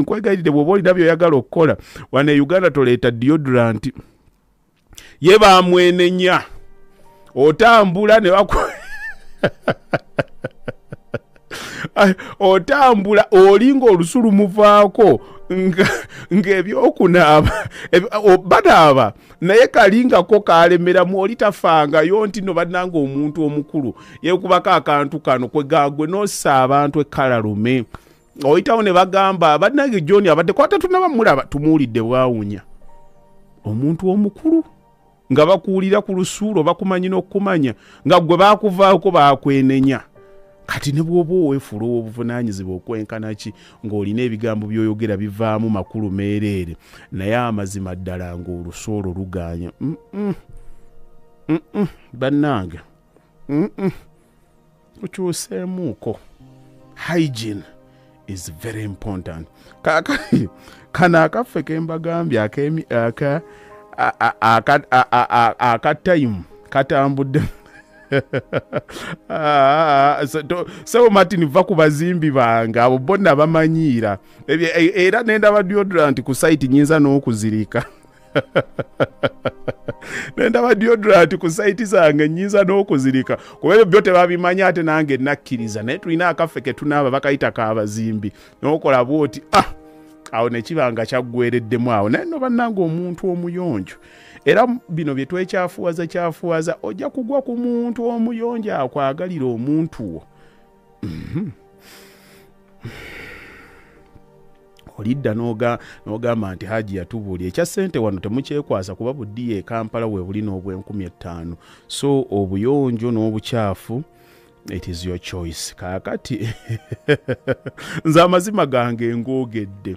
nkwegayirire bwoba olina byoyagala okukola wana e uganda toleeta deodorant ye bamwenenya otambula ne baku otambula olinga olusu lumuvaako ng'ebyokunaaba banaaba naye kalingako kalemeramu oli tafangayo nti no bannanga omuntu omukulu yekubako akantu kano kwegagwe nossa abantu ekkalalume oyitawo ne bagamba bannange john abadde kwata tunaba mulaba tumuwulidde bwawunya omuntu omukulu nga bakuwulira ku lusuulo bakumanyi n'okukumanya nga gwe bakuvaako bakwenenya kati ne bwoba owefuula owobuvunanyizibwa okwenkana ki ng'olina ebigambo byoyogera bivaamu makulu meereere naye amazima ddala ng'olusuolo lugaanya bannange tukyuseemuuko hygiene is very important kakati kano akaffe kembagambye aka aka time katambudde ah, sebo martin va ku bazimbi bange abo bonna bamanyiira e, era nendaba deodorant ku site nyinza n'okuzirika nendaba diodrat ku saiti zange nyinza n'okuzirika kuba ebyo byo tebabimanyi ate nange nakkiriza naye tulina akaffe ketunaaba bakayita kabazimbi nokola bwoti ah awo nekibanga kyaggwereddemu awo naye no bannanga omuntu omuyonjo era bino bye twekyafuwaza kyafuwaza ojja kugwa ku muntu omuyonjo akwagalira omuntu wo olidda noga- n'ogamba nti haji yatubuulira ekya ssente wano temukyekwasa kuba buddiya e kampala we buli n'obwenkumi ettaano so obuyonjo n'obukyafu it is your choice kaakati nze amazima gange ngoogedde